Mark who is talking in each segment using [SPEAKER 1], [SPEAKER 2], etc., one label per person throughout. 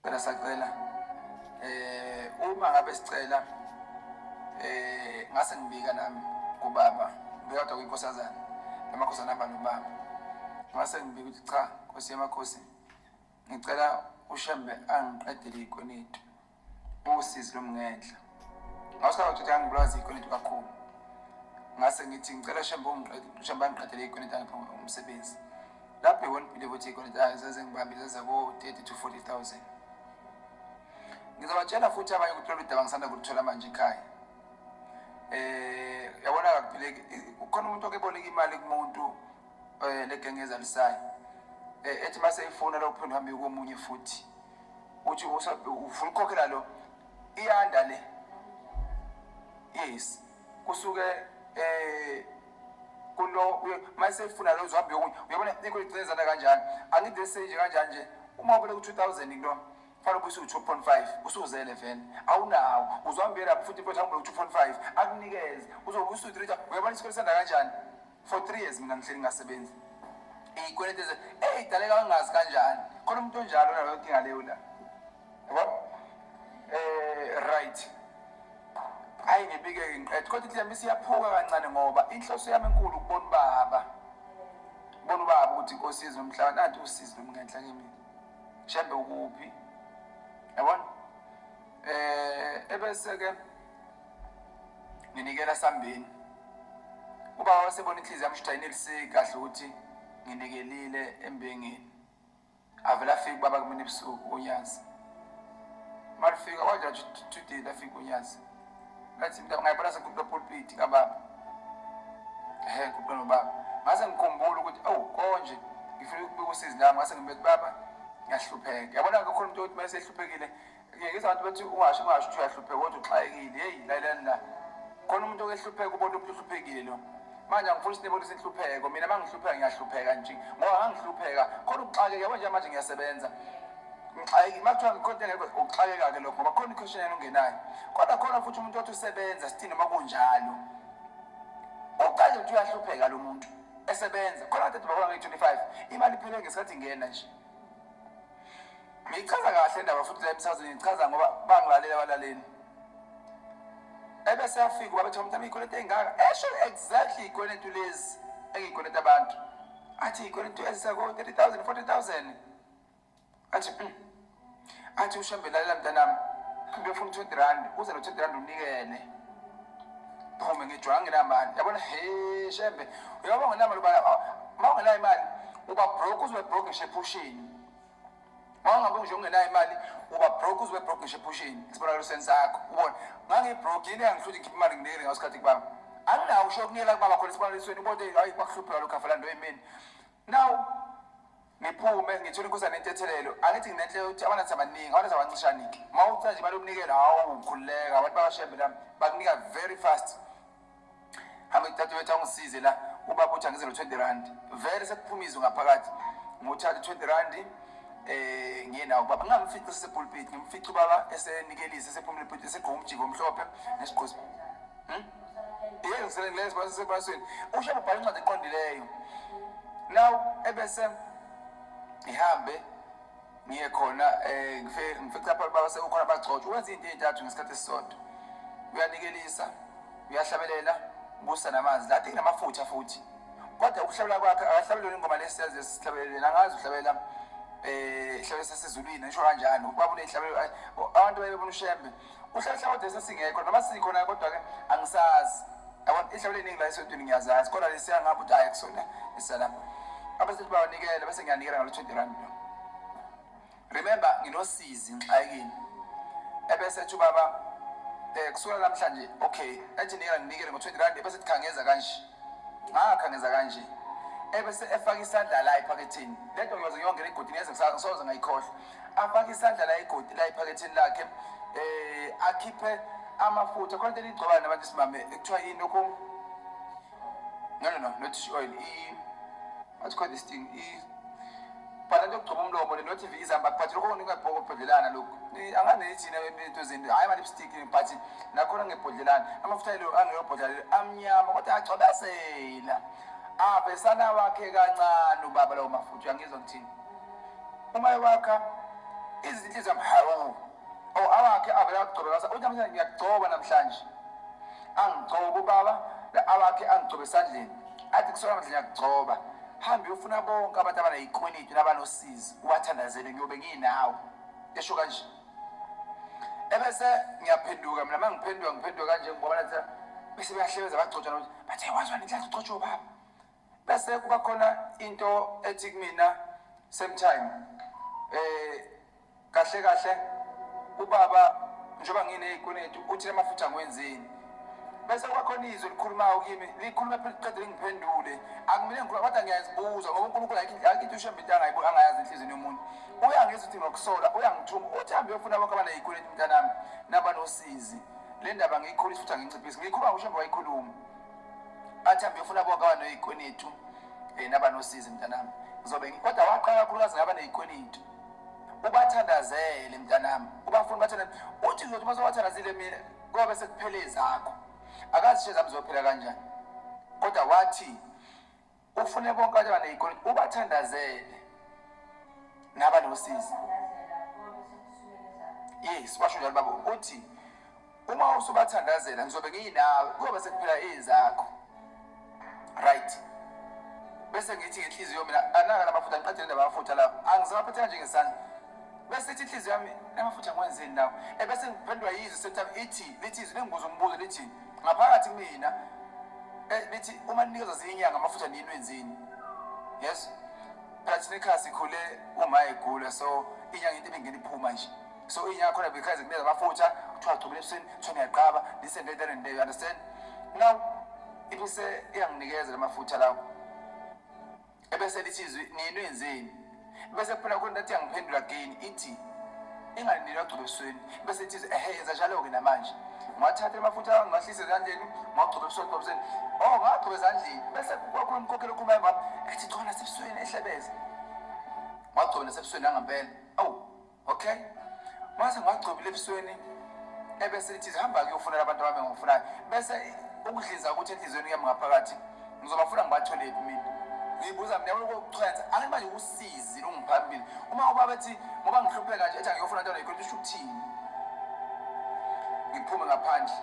[SPEAKER 1] Phela sacela eh uma ngabe sicela eh ngase ngibika nami kubaba ngiyodwa kwinkosazana emakhosana aba nobaba ngase ngibika ukuthi cha nkosi yamakhosi ngicela ushembe angiqedele ikoneti usizi lomngenhla Ngashaya utshitshana ngibulaza ikweletu kakhulu. Ngase ngithi ngicela shembe ungiqede, shembe angiqedele ikweletu angiphe umsebenzi. Lapho iwona believe ukuthi ikweletu azaze ngibambe zaze ko 30 to 40,000. Ngizabatshela futhi abanye ukuthi lolu daba ngisanda kulithola manje ekhaya. Eh yabona kakuphileki ukhona umuntu okeboleka imali kumuntu eh legengeza lisayo. Eh ethi mase ifona lokuphinda hambe komunye futhi. Uthi ufuna ukukhokhela lo iyanda le yes kusuke eh kulo mayesefuna lo zwabe yokunye uyabona ikho icinezana kanjani angide stage kanjani nje uma ubele ku 2000 into fanele ubuyise u-2.5 usuzele vele awunawo uzwambela futhi mfethu angibele ku-2.5 akunikeze uzobuyisa u-3 uyabona isikole sanda kanjani for three years mina ngihleli ngasebenzi iyikweleti eze eyi daleka wangazi kanjani khona umuntu onjalo naloyo dinga leyo la yabo eh right hayi ngibike ngiqede kodwa ihlamba isiyaphuka kancane ngoba inhloso yami enkulu ukubona ubaba ukubona ubaba ukuthi inkosi yezwe umhlaba nathi usizi nomngenhla kimi shembe ukuphi yabona eh ebese ke nginikela sambeni uba wasebona inhliziyo yami shidayinelise kahle ukuthi nginikelile embengeni avela afika ubaba kumina ebusuku unyazi malifika waja tudile afika unyazi ngathi mnta ungayibona sengikhuphula pulpiti kababa ehe ngikhuphula nobaba ngase ngikhumbula ukuthi awu oh, konje ngifuna ukubika usizi lami ngase ngibethi baba ngiyahlupheka yabona-ke khona umuntu othi uma esehluphekile ngiyekisa abantu bethi ungasho ungasho ukuthi uyahlupheka kodwa uxakekile heyi lalelani la khona umuntu okehlupheka ubona umuntu uhluphekile lo manje angifuni ukuthi nibonise inhlupheko mina uma ngihlupheka ngiyahlupheka nje ngoba angihlupheka khona ukuxakeka yabo nje manje ngiyasebenza ngixakekile uma kuthiwa ngikhonte ngeke ukuxakeka-ke lokho ngoba khona ikhweshini yena ungenayo kodwa khona futhi umuntu othi usebenza sithi noma kunjalo uqale ukuthi uyahlupheka lo muntu esebenza khona kade baba nge-twenty five imali iphele ngesikhathi ingena nje Ngichaza kahle indaba futhi la emsazweni ngichaza ngoba bangilalela abalaleli. Ebese yafika babethe umntana ikweletu engaka. Esho exactly ikweletu lezi engikweleta abantu. Athi ikweletu ezisako 30000 40000. Athi mm. athi ushambe lalela mntanami. Ngiyofuna 20 rand uze no 20 rand unikene. Phume ngijwanga nginamali. Yabona he shembe. Uyabona nginamali ubala. Mawungena imali uba broke uzobe broke ngishe ephushini. Mangabe nje ungenayo imali uba broke uzwe broke ngisho ephushini isibonelo sensakho ubona ngangibroke yini angihluthe ngikhiphe imali nginele ngasikhathi kubaba anginawo usho kunyela kubaba khona isibonelo sweni ubone hayi kwakuhlupheka lokho afela nto emini now ngiphume ngithole inkosi anentethelelo angithi nginenhle ukuthi abanathi abaningi abanathi abancishanike uma uthi nje balomnikelo hawu ukhululeka abantu bakashembe lami bakunika very fast hambe kuthatha wethu angisize la ubaba uthi angize no-twenty rand vele sekuphuma izwi ngaphakathi ngothatha u-twenty rand eh ngiye nawo baba ngamfica sesepulpit ngimfica ubaba esenikelisa esephumile epulpit esigqoka umjiko omhlophe nesigqozi hmm? yeke ngisele ngilenze basesebasweni usho ubhala incwadi eqondileyo now ebese ngihambe ngiye khona um ngifice lapha baba sekukhona abagcotshwa wenza into ey'ntathu ngesikhathi esisodwa uyanikelisa uyahlabelela busa namanzi lade kunamafutha futhi kodwa ukuhlabela kwakhe akahlabeleli ingoma lesiyazi esihlabeleleni angazi uhlabela um eh, ihlabele sasezulwini esho kanjani ubaba unehlabelo abantu bayebona ushembe kusheshe kodwa sesingekho noma sikhona kodwa-ke angisazi yabona ihlawula eningi la esontweni ngiyazazi kodwa lesiya ngapha ukuthi ayi kusona isalama abasethi bawanikele bese ngiyanikela ngalo twenty rand remember nginosizi ngixakini ebese ethi ubaba um kusukela namhlanje okay ethi nikela nginikele ngo-twenty rand ebese thikhangeza kanje ngakhangeza kanje ebese efaka isandla la ephaketheni le nto ngiyoze ngiyongena egodini yeze ngisoze ngayikhohlwa afake isandla la igodi la ephaketheni lakhe eh akhiphe amafutha khona into igcobana nabantu simame ekuthiwa yini lokho no no no not fish oil i what's called this thing i bhala into yokugcoba umlomo le not izamba but lokho ngingabhoko ubhodlelana lokho angane ithina into zini hayi ama lipstick but nakhona ngebhodlelana amafutha lo angeyobhodlela amnyama kodwa agcobazela abesana wakhe kancane ubaba lawo mafutha uyangizwa ngithini uma ewakha izinto zamhawu or awakhe avele agcobe basa uthi namhlanje ngiyagcoba namhlanje angigcobe ubaba awakhe angigcobe esandleni athi kusona manje ngiyagcoba hambe uyofuna bonke abantu abanayikweliti nabanosizi ubathandazele ngiyobe nginawe esho kanje ebese ngiyaphenduka mina uma ngiphenduka ngiphenduka kanje ngoba nathi bese bayahlebeza bagcotshana ukuthi bathe wazwa nenhlanhla ugcotshwa ubaba bese kuba khona into ethi kumina same time eh kahle kahle ubaba njengoba nginezikweletu uthi amafutha ngiwenzeni bese kwakhona izwi likhulumayo kimi likhuluma phela liqede lingiphendule akumele ngikhuluma kodwa ngiyazibuza ngoba unkulunkulu ayikho into ushembe into angayibo angayazi enhliziyeni yomuntu uyangizwa ukuthi ngokusola uyangithuma uthi hambe uyofuna bonke abanayikweleti mntanami nabanosizi le ndaba ngiyikhulisa futhi anginciphisi ngiyikhuluma ngoshembe wayikhuluma bathambe ufuna bonke abanoyikwenitu um eh, nabanosizi mntanami ngizobe kodwa waqala kakhulukazi ngaba neyikwenitu ubathandazele mntanami ubafuna ubathandazele uthi ngizothi uma sobathandazile mina kobe sekuphele ezakho akazi ishe zami zophila kanjani kodwa wathi ufune bonke abantu abaneyikoliti ubathandazele naba nosizi yes washo njalo baba ukuthi uma usubathandazela ngizobe ngiyinawe kuyobe sekuphela ezakho right bese ngithi ngenhliziyo mina anaka lamafutha ngiqedele ndaba yamafutha lawo angisawaphethe kanje ngesandla bese ithi inhliziyo yami namafutha ngiwenzeni lawo ebese ngiphendwa yizwi sethami ithi lithi izwi lingibuza umbuzo lithi ngaphakathi kumina eh, lithi uma ninikeza ziyinyanga amafutha nini wenzini yes phela thina ikhasi ikhule uma egula so inyanga into ebingena iphuma nje so inyanga khona bekhayeze kuneza amafutha kuthiwa gcobela ebusweni kuthiwa niyaqaba listen later and you understand now ibise iyanginikeza lamafutha lawo ebese lithi izwi nini wenzeni bese kuphela khona athi angiphendula again ithi ingalindelwa agcobe ebusweni bese ithi ehe yenza njalo-ke namanje ngiwathathe amafutha ami ngiwahlise ezandleni ngiwagcobe ebusweni gcobe ebusweni o oh, ngagcobe ezandleni bese kwakhona umkhokhela okhumbayo bami ethi chona sebusweni ehlebeza ngagcobe nasebusweni angempela awu okay mase ngagcobile ebusweni ebese lithi hamba kuyofunela abantu abami ngifunayo bese ukudliza ukuthi enhliziyweni yami ngaphakathi ngizobafuna ngibatholephi mina ngibuza mina ukuchwenza angithi manje usizi lungiphambili uma ubaba ethi ngoba ngihlupheka nje ethi angiyofuna into nayikho isho ukuthini ngiphume ngaphandle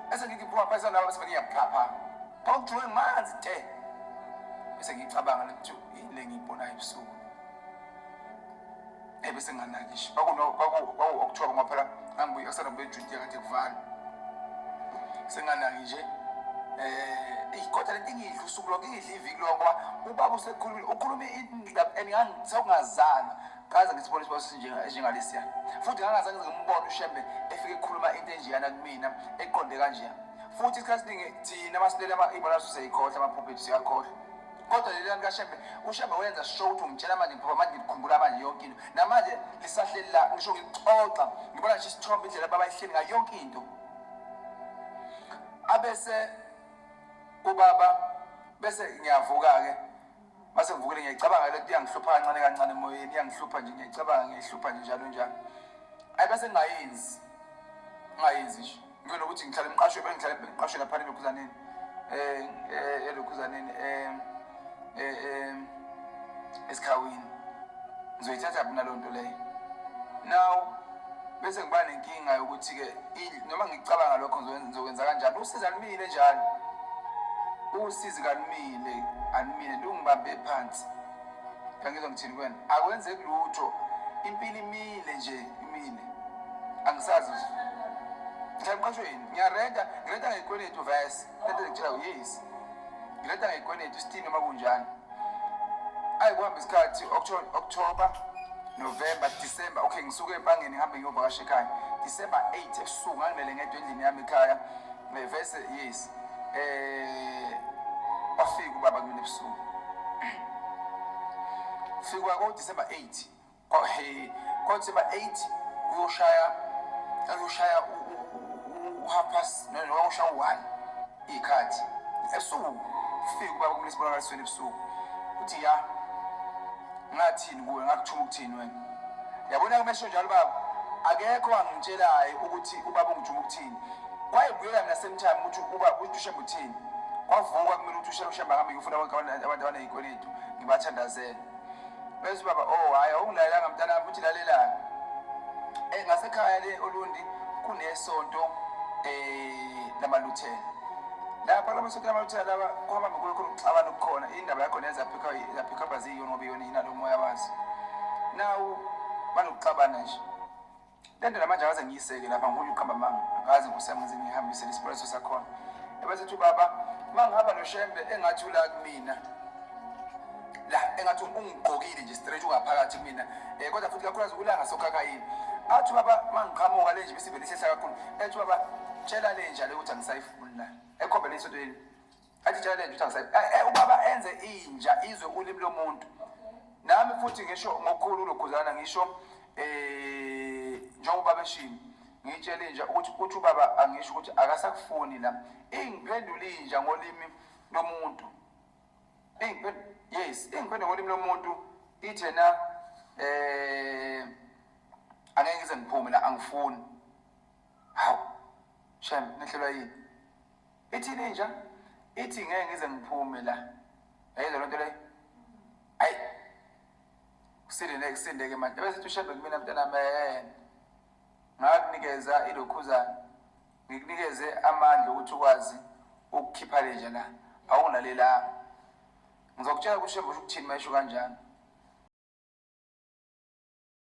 [SPEAKER 1] bese ngithi phuma phansi nalaba bese bengiyaphapha kwakujule manzi te bese ngicabanga ukuthi yini le ngiyibonayo ebusuku ebe senganakisho kwakuwokuthiwa kwama phela angibuye kusana ngibuye ejudiya ngathi kuvala senganaki nje um eyi kodwa lento ingidla usuku lonke ingidla iviki lonke ngoba ubaba usekhulumile ukhulume indaba and ngisawungazalwa kaze ngisibone isibona esinjengalesiya futhi ngangazange ngimbone ushembe efike ekhuluma into enjeyana kumina eqonde kanjeya futhi isikhathi siningi thina masilele ibona siseyikhohlwa amaphuphethu siyakhohlwa kodwa leli lami kashembe ushembe wenza sure ukuthi ungitshela manje ngiphupha manje ngikhumbula manje yonke into namanje lisahleli la ngisho ngixoxa ngibona nje isithombe indlela baba ihleli ngayo yonke into abese ubaba bese ngiyavuka-ke mase ngivukile ngiyayicabanga le nto iyangihlupha kancane kancane emoyeni iyangihlupha nje ngiyayicabanga ngiyihlupha nje njalo njalo ayi bese ngingayenzi ngingayenzi nje Ngicela ukuthi ngihlale ngiqashwe bengihlale ngiqashwe lapha elokhuzaneni. Eh eh elokhuzaneni eh eh, eh esikhawini. Ngizoyithatha mina lo nto leyo. Now bese ngiba nenkinga yokuthi ke noma ngicabanga lokho ngizokwenza kanjani usiza lumile njalo usizi kalumile alumile lungibambe phansi Angizwa ngithini kwena. Akwenzeki lutho. Impilo imile nje, imile. Angisazi. Ngiyaqashwe yini? Ngiyarenta, ngirenta ngekweletu verse. Lento ngitshela yes. Ngirenta ngekweletu isitini uma kunjani. Ayi kuhamba isikhathi October, November, December. Okay, ngisuke empangeni ngihambe ngiyovakasha ekhaya. December 8 ebusuku ngangilele ngedwa endlini yami ekhaya. Ngivese yes. Eh bafika ubaba kumina ebusuku. Fikwa ko December 8. Ko he ko December 8 kuyoshaya kuyoshaya u half past no no kuyoshaya u1 ikhathi. Ebusuku fika ubaba kumina esibonakalisweni ebusuku. Uthi ya ngathini kuwe ngakuthuma ukuthini wena. Yabona kumesho njalo baba akekho angitshelayo ukuthi ubaba ungijuma ukuthini. kwayebuyeka ngasame time ukuthi uba uthushe muthini kwavuka kumele ukuthi ushela ushamba hambe ngifuna bonke abantu abanezikweletu ngibathandazele bese ubaba o oh, hhayi awungilalelanga mntana wami uthi lalelani um eh, ngasekhaya le olundi kunesonto um lamaluthela lapha laba sonto lamaluthela laba kuhamba mikulo khona ukuxabana okukhona indaba yakhona yazaphikhabha ziyiyona ngoba iyona yinalo moya wazo nawu banokuxabana nje Kanti namanje akaze ngiyiseke lapha ngokuthi uqamba manga akaze kusemuzi ngihambisele isipoleso sakhona ebesethi ubaba uma ngihamba noshembe engathi ula kumina la engathi ungigqokile nje straight ungaphakathi kumina um kodwa futhi kakhulukazi ulanga sokhakayini athi ubaba uma ngiqhamuka le nje besivele isehla kakhulu ethi ubaba tshela le njalo ukuthi angisayifuni la ekhombela isodweni athi challenge ukuthi angisayi eh, eh, ubaba enze inja izwe ulimi lomuntu nami futhi ngisho ngokukhulu lokhuzana ngisho eh njengoba beshini ngitshele inja ukuthi uthi ubaba angisho ukuthi akasakufuni la ingiphendula inja ngolimi lomuntu ingiphendula yes ingiphendula ngolimi lomuntu ithe na eh angeke ngize ngiphume la angifuni hawu shem nehlelwa yini Ithini inja? Ithi ngeke ngize ngiphume la. Yayizwa lento le. Ay. Kusindele kusindeke manje. Bese ushebe kumina mntana man. Ngakunikeza ilokhuzana. Ngikunikeze amandla ukuthi ukwazi ukukhipha lenja la. Awunalelanga. Ngizokutshela ukuthi ushebe ukuthi uthini mayisho kanjani.